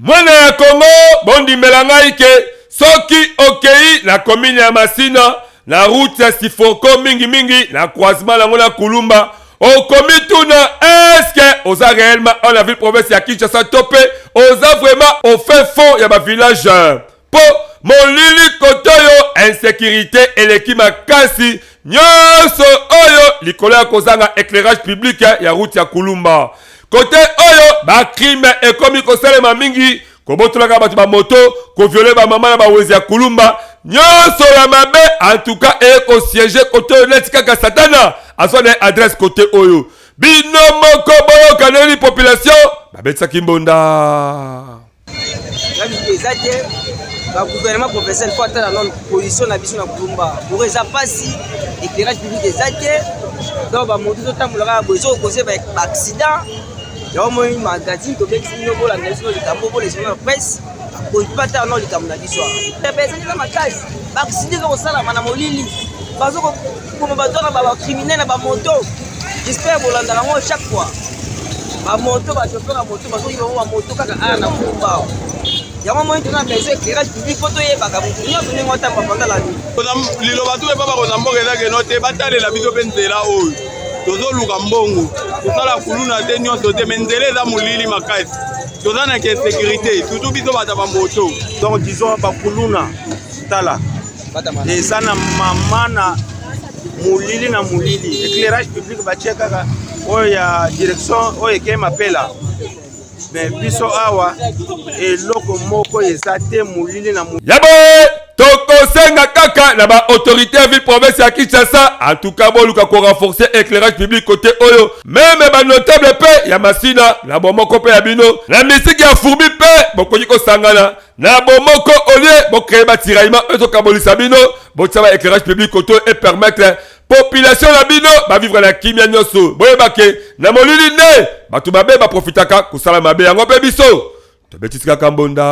mwana ya kongo bondimela ngai ke soki okei na komine ya masina na route ya siforko mingimingi na croisement nango na kulumba okomituna eske oza réellement en la ville province ya kinshasa to mpe oza vraiment au fin fond ya bavillage mpo molili kotoyo insekirite eleki makasi nyonso oyo likolo ya kozanga eclairage public ya route ya kulumba kote oyo bacrime ekomi kosalema mingi kobotolaka bato bamoto koviole bamama na bawezi ya kulumba nyonso ya mabe antuka eye kosiege kote oyo neti kaka satana azwa na ye adrese kote oyo bino moko boyokaneli population babetisaki mbonda eza te bagouvernement provincial mpo atala nano position na biso na kulumba boro eza mpasi éclairage public eza te donc bamoto ezotambola kaka boye ezokokose baaccident yango moi magazine tobekisi bino bolanda biso likambo bolesona presse akonti mpe ata nano likambo na biso ezali na makasi baaccident ezokosalama na molili bazo Comme bato wana ba criminel na ba moto j'espère bolandaka yango chaque fois ba moto ba chauffeur ya moto bazoki bango ba moto kaka aya na kumbao yango moi tuna beso éclairage public mpo toyebaka moto nyonso ndenge otamba panda la nuit liloba tu epa bakonza mboka eza keno te batalela biso mpe nzela oyo tozoluka mbongo tosala kuluna te nyonso te me nzela eza molili makasi toza na ke sécurité surtout biso bato ya bamoto donc disons bakuluna tala eza na mama na molili na molili éclairage public batie kaka oyo ya direction oyo ekei mapela me biso awa eloko moko eza te molili na molili yabo tokosenga kaka na baautorité ya ville province ya kinshasa en tout cas boluka korenforce éclairage public kote oyo meme banotable mpe ya masina na bomoko mpe ya bino na misiki ya furbi mpe bokoki kosangana na bomoko olie bocreye batiraillement oyo ezokabolisa bino botia ba éclairage public koto epermettre population na bino bavivre na kimia nyonso boyeba ke na molili nde bato mabe baprofitaka kosala mabe yango mpe biso tobetisi kaka mbonda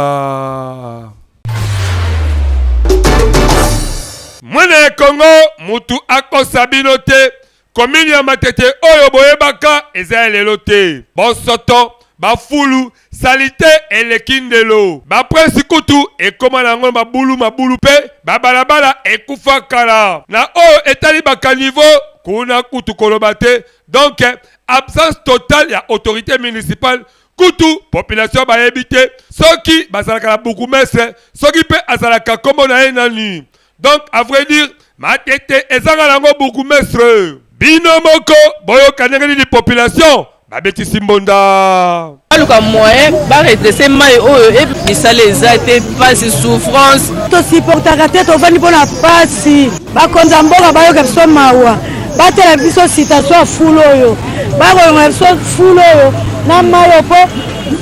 mwana ya kongo motu akosa bino te Commune ya Matete oyo boyebaka eza ya lelo te. Bosoto, bafulu, salite eleki ndelo. Ba prince kutu ekoma na yango mabulu mabulu pe ba balabala ekufa kala. Na oyo etali ba caniveaux kuna kutu koloba te. Donc absence totale ya autorite municipale kutu population bayebi te soki bazalaka na bourgoumestre soki pe azalaka kombo na ye nani. Donc à vrai dire Matete ezanga nango bourgmestre. Bino moko boyoka ndenge nini population babetisi mbonda. Baluka moyen ba redresser mai oyo et misala eza te pasi souffrance. To supportaka te tovandi mpo na pasi. Bakonzi ya mboka bayoka biso mawa batela biso situation ya fulu oyo bakolongola biso fulu oyo na mai oyo mpo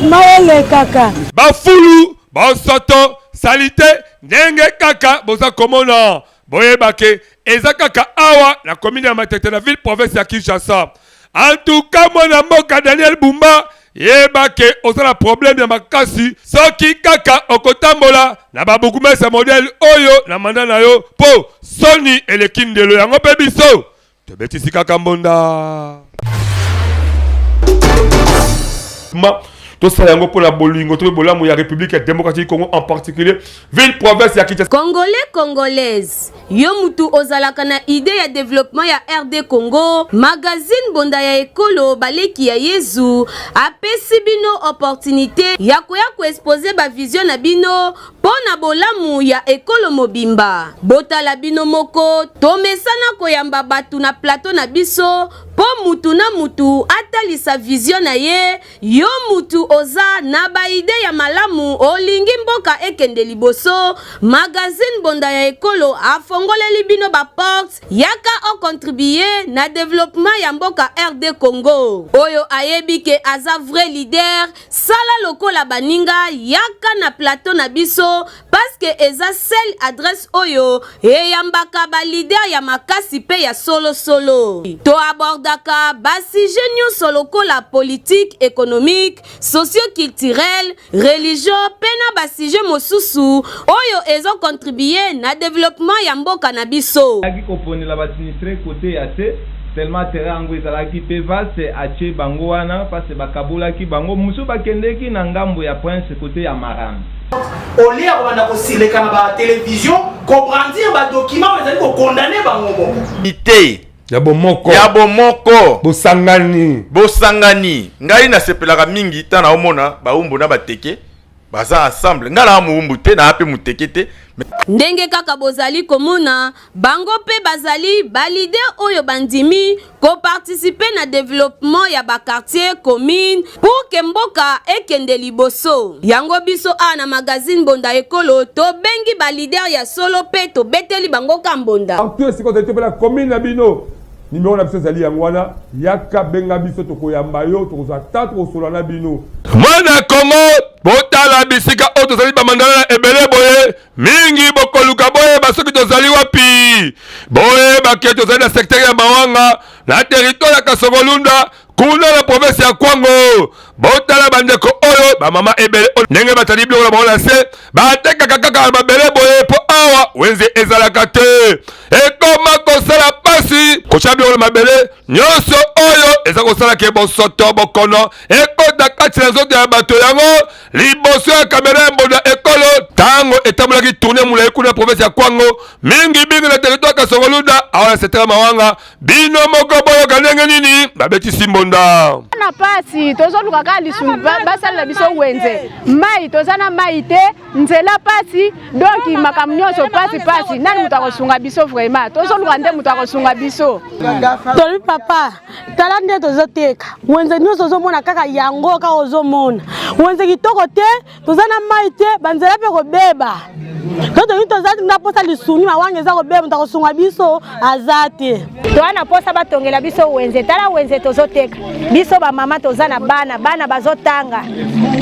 mai elekaka. Bafulu bosoto salite ndenge kaka boza komona boyeba ke eza kaka awa na komine ya matete na ville province ya kinshasa antuka mwana mboka daniel bumba yeba ke oza na probleme ya makasi soki kaka okotambola na babukumese modele oyo na manda na yo mpo soni eleki ndelo yango mpe biso tobetisi kaka mbonda tosala yango mpo na bolingo to mpe bolamu ya république ya démocratie du congo en particulier ville province ya kinshasa congolais congolaise yo mutu ozalaka na idée ya développement ya rd congo magazine bonda ya ekolo baleki ya yezu apesi bino opportunité ya koya koexpose bavision na bino Mpo na bolamu ya ekolo mobimba, botala bino moko, tomesana koyamba bato na plateau na biso mpo mutu na mutu atalisa vision na ye. Yo mutu oza na ba idee ya malamu, olingi mboka ekende liboso, magazine Bonda ya Ekolo afongoleli bino ba portes, yaka o contribuer na developpement ya mboka RD Congo. Oyo ayebi ke aza vrai leader, Sala lokola baninga yaka na plateau na biso parce que eza seule adresse oyo eyambaka ba leader ya makasi pe ya solo solo. To abordaka ba sujets nionso lokola politique, economique, socio-culturelle, religion pe na ba sujets mosusu oyo ezo contribuer na developpement ya mboka na biso. Azalaki koponela ba sinistres cote ya se, seulement terrain yango ezalaki mpe vaste, atie bango wana parce que bakabolaki bango, mosusu bakendeki na ngambo ya Prince cote ya Marana. Au lieu ya kobanda kosileka na ba television ko brandir ba documents oyo ezali ko condamner bango moko. ya bomoko ya bomoko bosangani bosangani ngai nasepelaka mingi ntango naomona baumbu na bateke baza ensemble nga naa mowumbu te naa mpe moteke te Ndenge kaka bozali komona, bango mpe bazali ba leaders oyo bandimi ko participer na developpement ya ba quartiers, communes pour que mboka ekende liboso. Yango biso awa na magazine Mbonda Ekolo tobengi ba leaders ya solo mpe tobeteli bango ka mbonda. Partout esika ozali to mpe na commune na bino. Numero na biso ezali yango wana, yaka benga biso, tokoyamba yo, tokozwa ata tokosola na bino. Mwana Kongo, botala bisika oyo tozali bamandala na ebele boye mingi, bokoluka boyeba soki tozali wapi. Boyeba ke tozali na sektere ya Mawanga na teritware ya Kasongo-Lunda kuna na province ya kwango botala bandeko oyo bamama ebele oyo ndenge batandi biloko na bango na se batekaka kaka na mabele boye mpo awa wenze ezalaka te ekoma kosala pasi kotya biloko na mabele nyonso oyo eza kosala ke bosoto bokono ekota kati na nzoto ya bato yango liboso ya kamera ya mbondo ya ekolo ntango etambolaki tourne molai kuna na province ya kwango mingi mingi na teritware kasongoluda awa na setela mawanga bino moko boyoka ndenge nini babetisi mbonda na pasi tozoluka kaka lisungi basalela biso wenze mai toza na mai te nzela pasi donki makambo nyonso pasi pasi nani moto akosunga biso vraimen tozoluka nde moto akosunga biso tolobi papa tala nde tozoteka wenze nyonso ozomona kaka yango kaka ozomona wenze kitoko te toza na mai te banzela mpe kobeba to toyini toza na mposa lisuni mawanga eza kobeba moto akosunga biso aza te toza na mposa batongela biso wenze tala wenze tozoteka biso bamama toza na bana bana bazotanga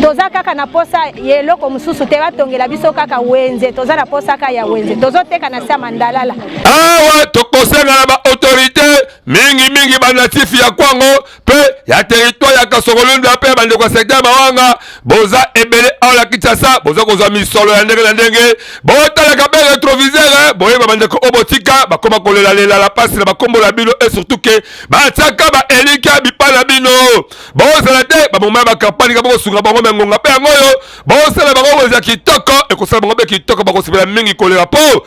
toza kaka na mposa ya eloko mosusu te batongela biso kaka wenze toza na mposa kaka ya wenze tozoteka na se ya mandalala awa tokosengana baautorité mingimingi banatifi ya kwango mpe ya teritware ya kasokolunda mpe ya bandeko ya sekta ya mawanga boza ebele awa na kinshasa boza kozwa misolo ya ndenge na ndenge botalaka mpe retrovisere boyeba bandeko oyo botika bakoma kolelalela na mpasi na bakombo na bino e surtout ke batiaka baelikya bipai na bino bozala te bamoma ya bakampani ka bokosunga bango me ngonga mpe yango oyo bosala bango boza kitoko ekosala bango mpe kitoko bakosepela mingi kolela mpo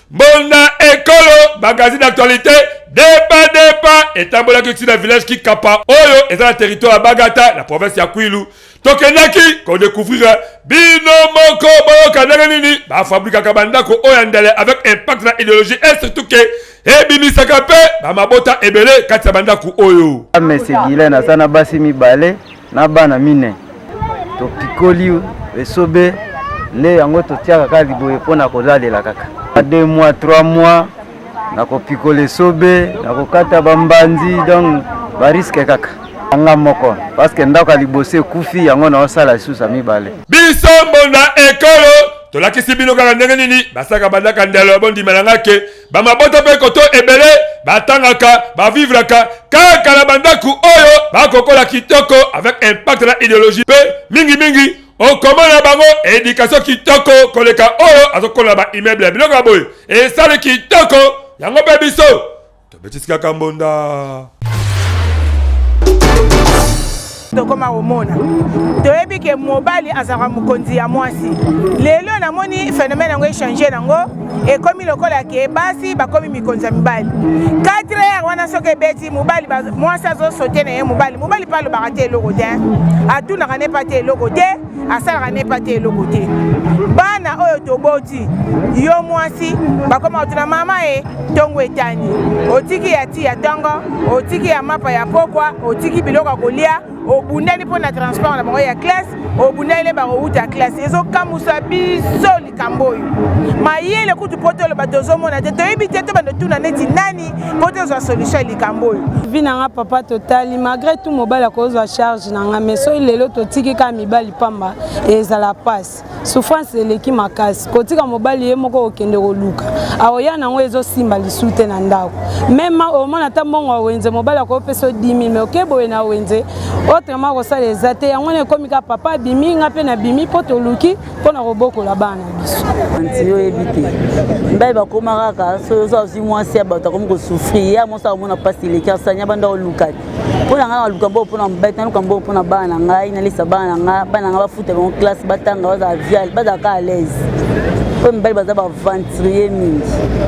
Mbonda Ekolo, magazine d'actualité, Deba Deba etambolaki ti na village Kikapa oyo eza na territoire ya Bagata na province ya Kwilu. Tokendaki ko découvrir bino moko boyoka ndenge nini bafabrikaka bandako oyo ya ndele avec impact na ideologie et surtout ke ebimisaka mpe bamabota ebele kati ya bandako oyo. Amese Gilen aza na basi mibale. na bana mine topikoli esobe nde yango totiaka kaka liboye mpo na kolalela kaka na 2 mois 3 mois na kopikola esobe na kokata bambanzi donc bariske kaka anga moko parceke ndako ya liboso ekufi yango naosala lisusu ya mibale biso mbonda ekolo tolakisi bino kaka ndenge nini basaka bandaka ndelo ya bondima na nga ke bamabota mpe koto ebele batangaka bavivraka kaka na bandako oyo bakokola kitoko avec impact na ideologie mpe mingimingi okoma na bango edikatio kitoko koleka oyo azokola na baimmeuble ya biloko ya boye esali kitoko yango mpe biso tobetisikaka mbonda tokoma komona toyebi ke mobali azalaka mokonzi ya mwasi lelo namoni phénomène yango echange nango ekomi lokola ke basi bakomi mikonzi ya mibali 4 heure wana soki ebeti mobali mwasi azosote na ye mobali mobali mpe alobaka te eloko te atunaka ne pa te eloko te asalaka nepa te eloko te bana oyo toboti yo mwasi bakoma kotuna mama e ntongo etani otiki ya ti ya ntongo otiki ya mapa ya pokwa otiki biloko ya kolia obundani mpo na transport na bango ya classe obundani nde bakowuta classe ezokamusa biso likambo oyo mayele kutu mpo toloba tozomona te toyebi te to bando tuna neti nani mpo tozwa solution ya likambo oyo vi na nga papa totali malgré tout mobali akozwa charge na nga mais soki lelo totiki kaka mibali pamba ezala mpasi souffrance eleki makasi kotika mobali ye moko okende koluka aoya na yango ezosimba lisu te na ndako meme omona ata mbongo ya wenze mobali akopesa yo 10 000 mais oke boye na wenze autrement akosala eza te yango wana ekomi kaka papa abimi nga mpe nabimi mpo toluki mpo na kobokola bana biso anti oyebi te ndai bakoma kaka soki oza ozwi mwasi ya bato akomi kosufri ya mwasi akomona mpasi eleki asanya banda olukaki mpo na ngai naluka mboo mpo na mobali naluka mboo mpo na bana na ngai nalisa bana na ngai bana na ngai bafuta bango classe batanga bazala vial bazala ka à l'aise oyo mibali baza baventurier mingi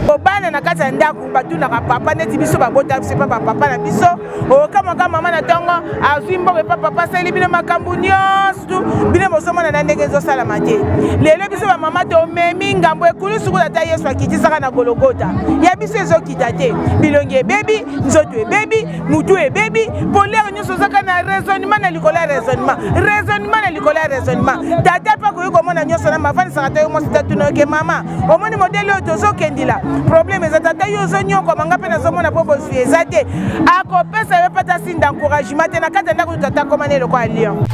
kobana na kati ya ndako batunaka papa neti biso babota biso epa bapapa na biso okamwaka mama na ntongo azwi mbongo epa papa asali bino makambo nyonso bino bozomona na ndenge ezosalama te lelo biso bamama tomemi ngambo ekulu suku ata yesu akitisaka na gologota ya biso ezokita te bilongi ebebi nzoto ebebi motu ebebi polere nyonso ozaka na raisonnement na likolo ya raisonnement raisonnement na likolo ya raisonnement tata mpe akoki komona nyonso na mafandisaka to yo mwasi tatunoke mama omoni modele oyo tozokendila problème eza tata yo ozonyokwama nga mpe nazomona mpo bozwi eza te akopesa yo mpe ata sinde encouragement te na kati ya ndako oyo tata akoma na eloko ya lion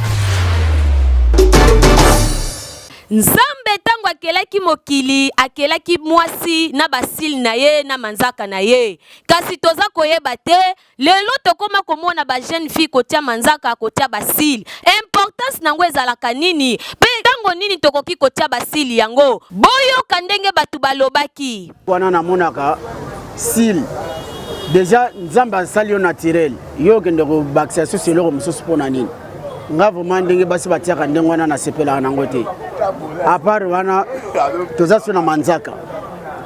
nzambe ntango akelaki mokili akelaki mwasi na basili na ye na manzaka na ye kasi toza koyeba te lelo tokoma komona ba jeune fille kotia manzaka kotia basili importance na yango ezalaka nini mpe ntango nini tokoki kotia basili yango boyoka ndenge bato balobaki wana namonaka sili deja nzambe asali yo naturel yo okende kobakisa susu eloko mosusu mpo na nini nga vraimen ndenge basi batiaka ndenge wana nasepelaka nango te apart wana toza so na manzaka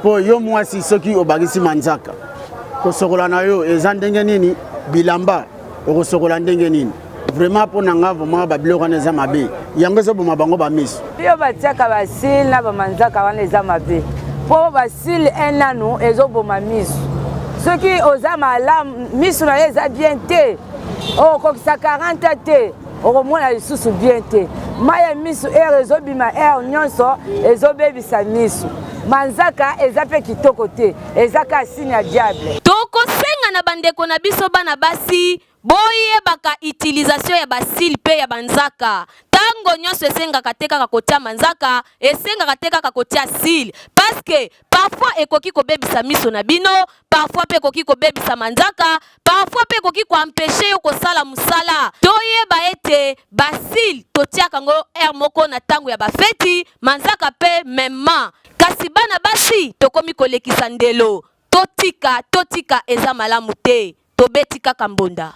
mpo yo mwasi soki obakisi manzaka kosokola na yo eza ndenge nini bilamba okosokola ndenge nini vraiment mpo na nga vraiment babiloko wana eza mabe yango ezoboma bango bamiso yo batiaka basile na bamanzaka wana eza mabe mpo basile enanu ezoboma miso soki oza malamu miso na yo eza bien te okokisa 40 te okomona lisusu bien te mai ya miso ere ezobima ere nyonso ezobebisa miso manzaka eza mpe kitoko te eza kaka sini ya diable tokosenga na bandeko na biso bana basi boyebaka utilisation ya basile mpe ya banzaka ntango nyonso esengaka te kaka kotia manzaka esengaka te kaka kotia sile paske parfois ekoki kobebisa miso na bino, parfois pe ekoki kobebisa manzaka, parfois pe ekoki koampeche yo kosala mosala. Toyeba ete basile totiaka yango heure moko na ntango ya bafeti, manzaka pe memement. Kasi bana basi tokomi kolekisa ndelo, totika, totika eza malamu te. Tobeti kaka mbonda.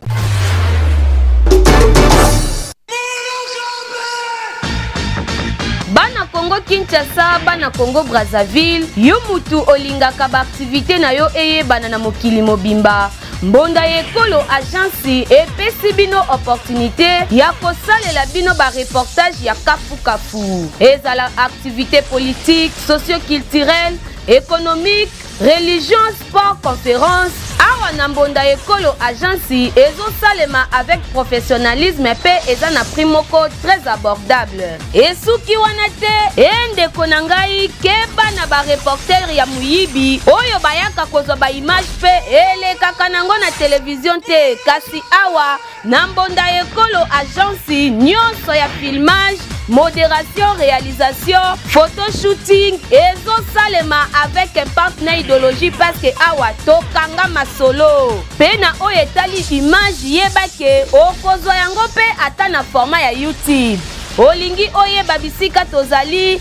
Bana Congo Kinshasa, bana Congo Brazzaville, yo mutu olingaka ba activite na yo eyebana na mokili mobimba. Mbonda ya ekolo agence epesi bino opportunité ya kosalela bino ba reportage ya kafu kafu. Ezala activité politique, socio-culturelle, économique, Religion Sport Conference awa na mbonda ekolo agence ezosalema avec professionnalisme mpe eza na prix moko très abordable esuki wana te e ndeko na ngai keba na bareportere ya moyibi oyo bayaka kozwa baimage mpe elekaka nango na televizio te kasi awa Na mbonda ya ekolo agence nionso ya filmage, moderation, realisation, photo shooting ezo salema avec impact na idologie parce que awa to kanga masolo. Pe na oyo etali image yeba que oko zwa yango pe ata na format ya YouTube. Olingi oyeba bisika tozali?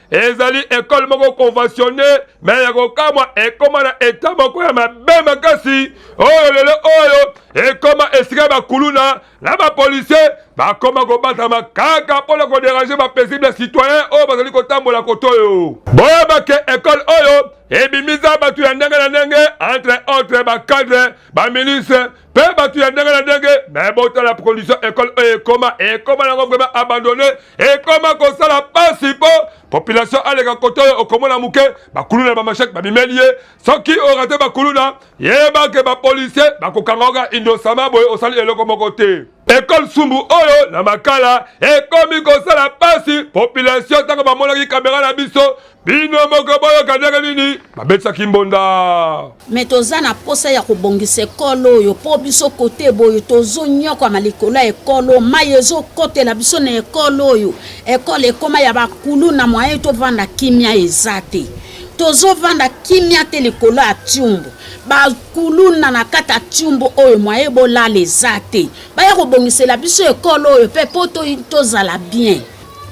ezali ekole moko conventionne me ya kokamwa ekoma na eta moko ya mabe makasi oyo lelo oyo ekoma esika bakuluna na bapolisier bakoma kobatama kaka mpo na koderange bapaisible ya citoyen oyo bazali kotambola koto oyo boyeba ke ekole oyo ebimisa bato ya ndenge na ndenge entre autre bacadre baministre mpe bato ya ndenge na ndenge me botala condition ekole oyo ekoma ekoma nango vraimen abandone ekoma kosala pasi mpo population aleka kote oyo okomona moke bakuluna na bamashete babimeli ye soki orate bakuluna yebake bapolisier bakokanga oka indosama boye osali eloko moko te Ecole Sumbu oyo na Makala ekomi kosala pasi population ntango bamonaki kamera na biso bino moko boyoka ndenge nini babetisaki mbonda me toza na mposa ya kobongisa ekolo oyo mpo biso kote boyo tozonyokwama likolo ya ekolo mai ezokotela biso na ekolo oyo ekolo ekoma ya bakulu na moyen tovanda kimia eza te tozovanda kimia te likolo ya tiumbu kuluna na kati ya tiumbu oyo mwaye bolala eza te baya kobongisela biso ekolo oyo mpe mpo tozala bien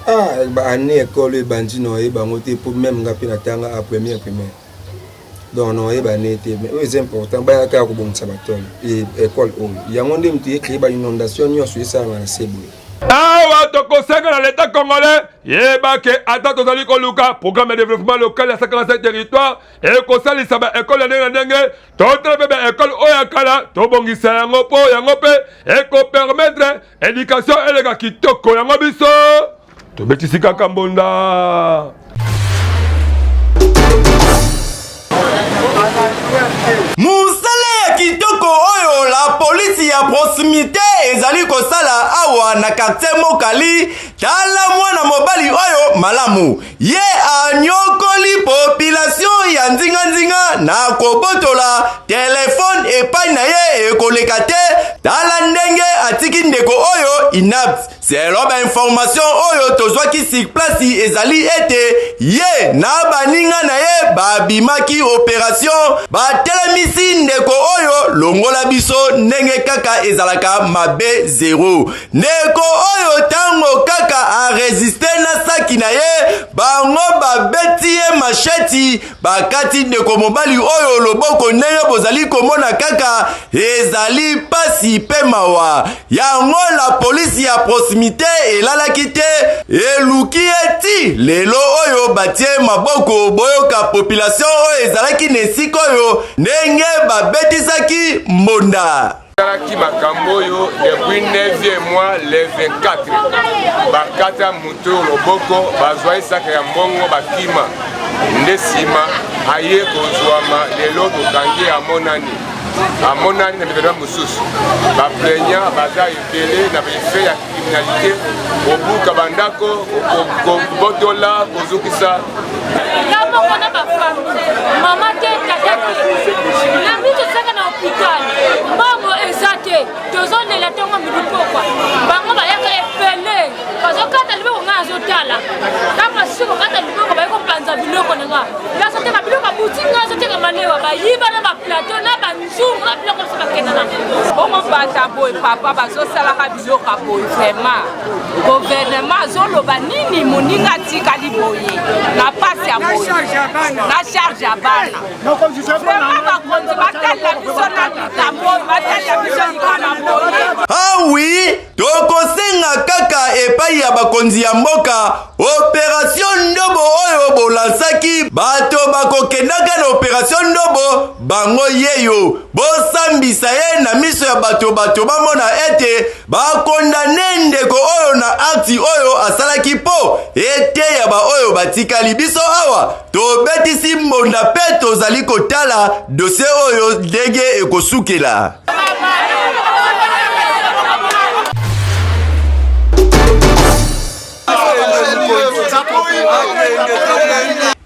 ah, baannée ekolo ebandi na oye bango te mpo meme nga mpe natanga a première primaire donc na oye bane te mais oyo eza important baya kaka kobongisa batole ekole oyo yango nde moto ecree bainondation nyonso esalama na se boye awa tokosenga na leta congolais yeba ke ata tozali koluka programme ya développement local ya 57 territoire ekosalisa ba ekole ya ndenge na ndenge totala mpe ba ekole oyo ya kala tobongisa yango mpo yango mpe ekopermetre edikatio eleka kitoko yango biso tobetisi kaka mbonda mosala ya kitoko oyo la polisi ya proximité ezali kosala awa na quartier mokali tala mwana mobali oyo malamu Ye anyokoli population ya nzinga nzinga na kobotola telefone epai na ye ekoleka te. Tala ndenge atiki ndeko oyo inapte. Selon ba information oyo tozwaki sur place ezali ete ye na baninga na ye babimaki operation, batelemisi ndeko oyo longola biso ndenge kaka ezalaka mabe zero. Ndeko oyo tango kaka a resiste na saki na ye, bango babeti ye masheti, bakati ndeko mobali oyo loboko. Ndenge bozali komona kaka, ezali pasi pe mawa. Yango la police ya proximite elalaki te, eluki ye ti lelo oyo batie maboko. Boyoka population oyo ezalaki na esika oyo ndenge babetisaki mbonda. Talaki makambo oyo depuis 9e mois le 24 bakata moto loboko bazwa esaka ya mbongo bakima nde nsima aye kozwama lelo tokangi amonani amonani na mikanda mosusu baplaignant baza ebele na baefe ya finalité kobuka bandako kobotola kozokisa nga moko na bafami mama te tata te na biso saka na hopital mbongo eza te tozolela ntongo midi pokwa bango bayaka epele bazokata liboko ngai azotala ntango basusu kokata liboko baye kopanza biloko na nga azoteka biloko abuti ngai azoteka malewa bayiba na baplateau na sunga biloko biso bakenda na bongo bata boye papa bazosalaka biloka boye vraiment guvernema azoloba nini moninga atikali boye na mpasi ya boye na charge ya bana vraiment bakonzi batalela biso na likambo oyo batalela biso likana boye ah oui tokosenga kaka epai ya bakonzi ya mboka operatio ndobo oyo bolansaki bato bakokendaka na operatio ndobo bango yeyo bosambisa ye na miso ya bato bato bamona ete bakondane ndeko oyo na akti oyo asalaki mpo eteya baoyo batikali biso awa tobetisi mbonda mpe tozali kotala dosie oyo ndenge ekosukela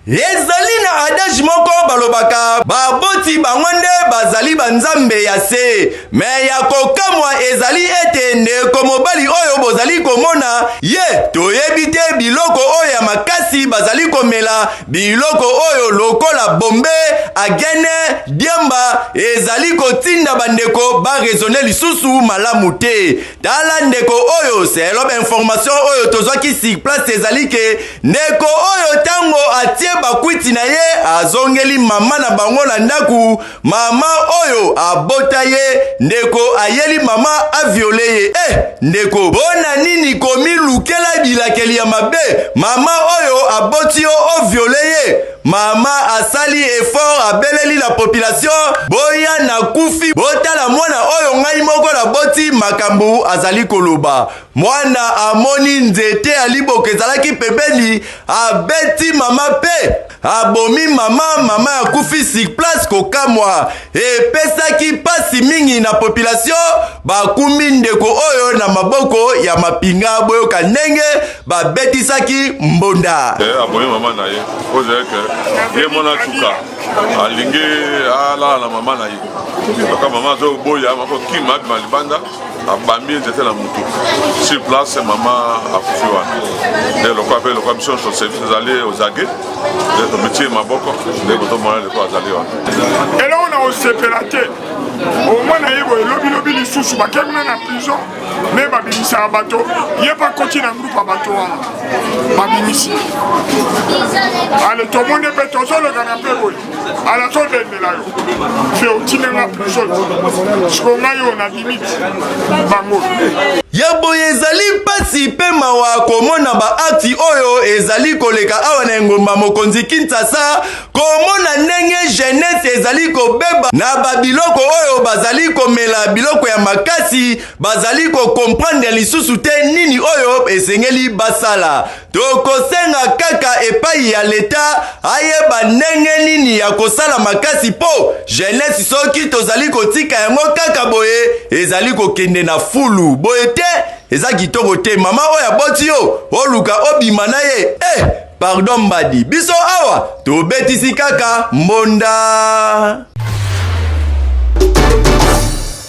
ezali na adage moko balobaka baboti bango nde bazali banzambe ya se me ya kokamwa ezali ete ndeko mobali oyo bozali komona ye toyebi te biloko oyo ya makasi bazali komela Biloko oyo lokola bombe, agene, diemba ezali kotinda bandeko barezone lisusu malamu te. Tala ndeko oyo, selo bainformation oyo tozwaki sur place ezali ke ndeko oyo ntango atie bakwiti na ye azongeli mama na bango na ndako Mama oyo abota ye ndeko ayeli mama aviole ye eh ndeko bona nini komilukela bilakeli ya mabe mama oyo aboti yo oviole ye mama asali effort abeleli la population boya na kufi botala mwana oyo ngai moko naboti makambo azali koloba mwana amoni nzete ya liboka ezalaki pembeni abeti mama pe abomi mama mama akufi sur place kokamwa epesaki mpasi mingi na population bakumbi ndeko oyo na maboko ya mapinga boyoka ndenge babetisaki mbonda eh, abomi mama na ye ozeke ye mwana atuka alingi alala na mama na ye kaka mama azoboya makokima abima libanda abambi nzete na motu sur place mama akufi wana nde lokwa mpe lokwa biso nyonso service ezali ozage nde tomitie maboko nde kotomona leko azali wana eloko na kosepela te omoi na ye boye lobilobi lisusu bakemuna na prison me babimisaka bato ye mpe akoti na grupe ya bato wana babimisi ale tomoni mpe tozolekana mpe boye ala todendela yo fe otine nga prison siko ngai oyo na limite bango ya boye ezali mpasi mpe mawa komona baakti oyo ezali koleka awa na engumba mokonzi kinshasa komona ndenge jeunesse ezali kobeba na babiloko oyo bazali komela biloko ya makasi bazali kokomprendre lisusu te nini oyo esengeli basala Tokosenga kaka epai ya leta ayeba ndenge nini ya kosala makasi mpo jeunesse soki tozali kotika yango kaka boye ezali kokende na fulu boye te eza kitoko te mama oyo aboti yo oluka obima na ye eh, pardon mbadi biso awa tobetisi kaka mbonda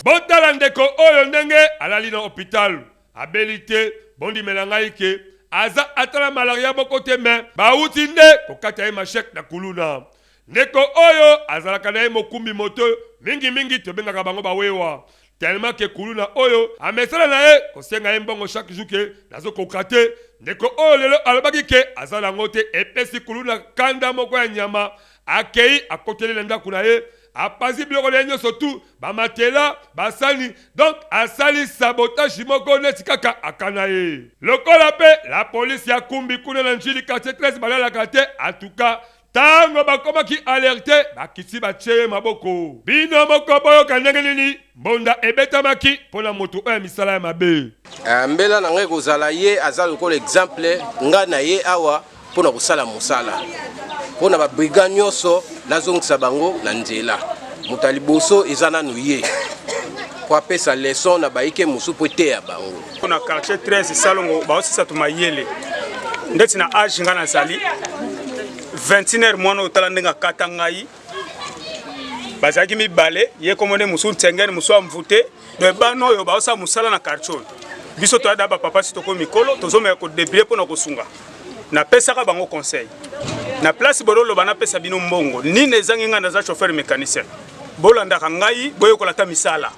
botala ndeko oyo ndenge alali na hopitalo Abeli te bondimela ngai ke aza ata na malaria boko te mais bawuti nde kokata ye machette na kuluna. Ndeko oyo azalaka na ye mokumbi moto mingi mingi tobengaka bango ba wewa tellement ke kuluna oyo amesana na ye kosenga ye mbongo chaque jour ke nazo koka te ndeko oyo lelo alobaki ke aza na ngo te epesi kuluna kanda moko ya nyama akeyi akoteli na ndaku na ye apanzi biloko na ye nyonso tu bamatela basani donc asali sabotage moko neti kaka akana ye lokola mpe la police ya kumbi kuna na njili quartier 13 balalaka te atuka tango bakomaki alerte bakisi batie ye maboko bino moko boyoka ndenge nini Mbonda ebetamaki mpo na moto oyo ya misala ya mabe. Eh, mbela na ngai ekozala ye aza lokola exemple ngai na ye awa mpo na kosala mosala mpo na babriga nyonso nazongisa bango na nzela moto ya liboso eza nanu ye mpo apesa leson na bayike mosusu mpo eteya bango mpo na quartier 13 salongo baosisatu mayele ndeti na age ngai nazali 21 heure mwana otala ndenge akata ngai bazalaki mibale ye kombo nde mosusu nsengene mosusu amvute donc bana oyo baosala mosala na quartier oyo biso toyada bapapa si tokomi mikolo tozomeka kodebrie mpo na kosunga napesaka bango conseil na place bololoba napesa bino mbongo nini ezangi ngai naza chauffeur mécanicien bolandaka ngai boyekola ata misala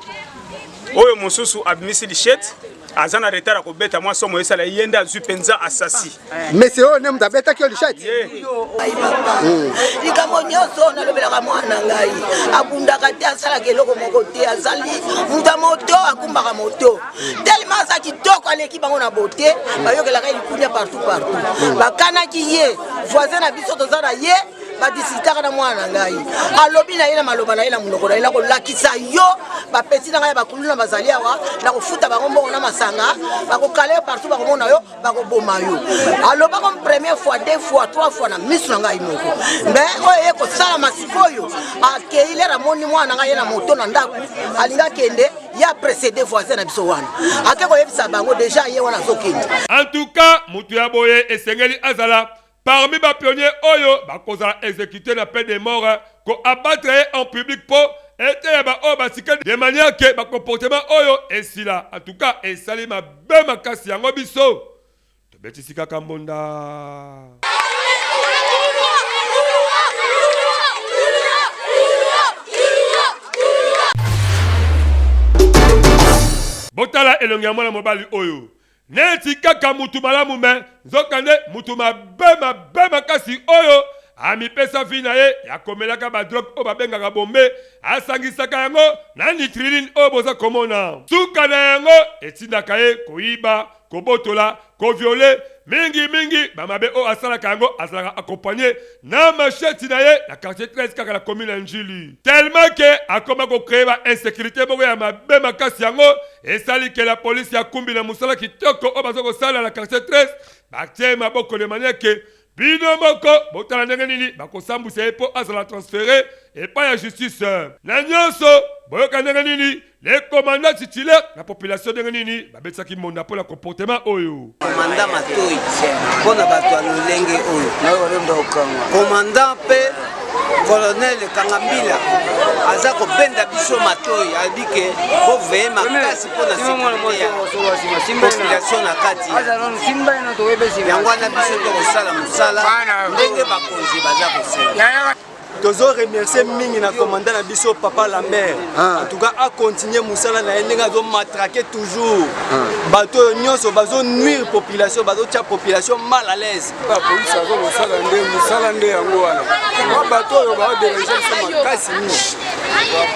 oyo mosusu abimisi lichete aza na retard ya kobeta mwa somo esala ye nde azwi mpenza asasi Monsieur oyo nde moto abetaki yo lishati hmm. likambo nyonso nalobelaka mwana ngai abundaka te asalaka eloko moko te azali moto ya moto akumbaka moto telema aza kitoko aleki bango na bote bayokelaka ye likunia partout partout hmm. bakanaki ye voisin na biso toza na ye badisitaka na mwana na ngai alobi na ye na maloba na ye na monoko na ye nakolakisa yo bapesi na ngai ya bakuluna bazali awa nakofuta bango mbongo na masanga bakokala yo partout bakomona yo bakoboma yo aloba comme première fois deux fois trois fois na miso na ngai moko me oyo eye kosalama sikoyo akei lere amoni mwana na ngai ye na moto na ndako alingi akende ye aprecede voisin na biso wana ake koyebisa bango deja ye wana azokende en tout cas moto ya boye esengeli azala parmi ba pionniers oyo bakozala execute na peine de mort ko abattre ye en public po eteya ba oyo basika de manière que ba comportement oyo esila en tout cas esali mabe makasi yango biso tobetisi kaka mbonda. Botala elongi ya mwana mobali oyo. Neti kaka mutu malamu mais nzoka nde mutu mabe mabe makasi oyo amipesa vie na ye ya komelaka ba drogue oyo babengaka bombe asangisaka yango na nitriline oyo boza komona suka na yango etindaka ye koyiba kobotola ko viole mingi mingi ba mabe oyo asalaka yango azalaka accompagne na machette na ye na quartier 13 kaka na commune ya Ndjili tellement que akoma ko cree ba insecurite moko ya mabe makasi yango esali que la police ya kumbi na musala kitoko oyo baza kosala na quartier 13 batie maboko de manière que bino moko botala ndenge nini bakosambwisa ye mpo azala transfere epai ya justice na nyonso boyoka ndenge nini Le commandant titulaire na population ndenge nini babetisaki monda mpo na comportement oyo komanda matoi mpo na bato ya lolenge oyo komanda mpe colonel kangambila aza kobenda biso matoi alobi ke boveye makasi mpo na population na kati yango wana biso tokosala mosala ndenge bakonzi baza kosala tozo remercier mingi na commandant na biso papa lambert ah. en tout cas acontinue mosala na ye ndenge azomatrake toujours ah. bato oyo nyonso bazonuire population bazotya population mal à l'aise bapolisi aza kosala nde mosala nde yango wana ba bato oyo baoderange biso makasi mingi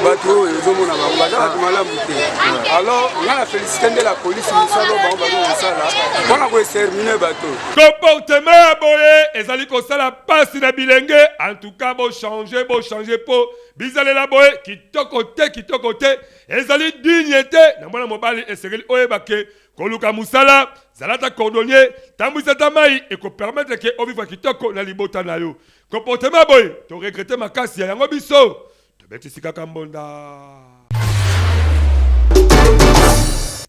bato oyo ezomona bango baza bato malamu te ah. alors nga na félicité nde la polisi mosala oyo bango bazokosala mpona koesermine bato comportement ya boye ezali kosala pasi na bilenge en tout cas bo changer bo changer po bizalela boye kitoko te kitoko te ezali digne te na mwana mobali esengeli oyeba ke koluka mosala zala ata cordonnier tambwisa ata mai ekopermetre ke ovivre kitoko na libota na yo comportement boye toregrete makasi ya yango biso tobetisi kaka mbonda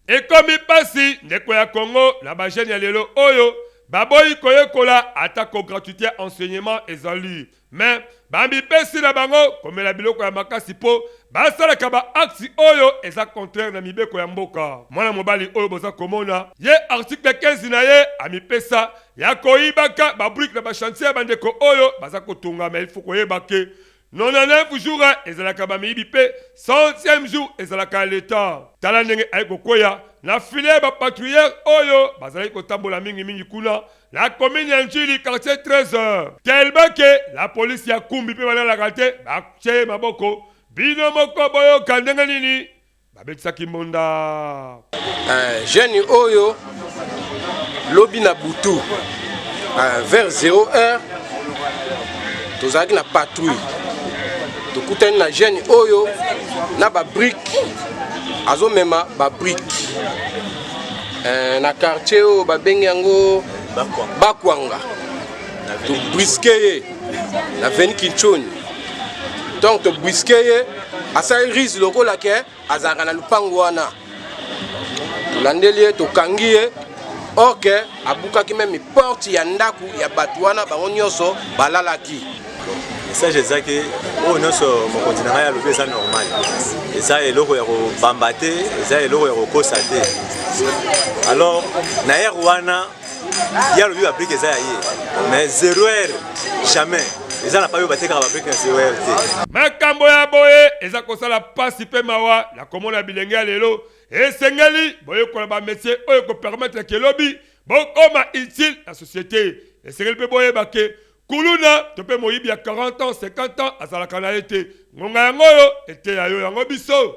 ekomi mpasi ndeko ya kongo na bajene ya lelo oyo baboyi koyekola atako gratuité ya enseignement ezali me bamipesi na bango komela biloko ya makasi mpo basalaka baakti oyo eza contraire na mibeko ya mboka mwana mobali oyo boza komona ye artikle 15 na ye amipesa ya koyibaka babrike na bashantier ya bandeko oyo baza kotongama ilfo koyeba ke 99 jours ezalaka bamiyibi mpe 100e jour ezalaka leta. Tala ndenge aye kokweya na filet ba patrouilleurs oyo bazalaki kotambola mingi mingi kuna na commune ya Ndjili quartier 13 tellement que la police ya Kumbi mpe balalaka te batye ye maboko. Bino moko boyoka ndenge nini babetisaki mbonda eh, jeune oyo lobi na butu eh, vers 0 heure tozalaki na patrouille tokutani na jeune oyo na babrike azomema babrike eh, na quartier oyo babengi yango bakwanga tobriske ye na veni kinchoni ntango tobriske ye asali rise lokola ke azalaka na lupangu wana tolandeli ye tokangi ye or ke abukaki meme porte ya ndako ya bato wana bango nyonso balalaki message ezaki oyo nyonso mokonzi na ngai alobi eza normal eza eloko ya kobamba te eza eloko ya kokosa te alors na ere wana ye alobi babrike eza ya ye mais zero heure jamais eza na payo batekaka babrike na zero heure te makambo ya boye eza kosala mpasi mpe mawa na komona bilenge ya lelo esengeli boyekola bametie oyo ekopermetre ke lobi bokoma utile na societe esengeli mpe boyeba ke kuluna to mpe moyibi ya 40 ans 50 ans azalaka na ye te ngonga yango oyo eteya yo yango biso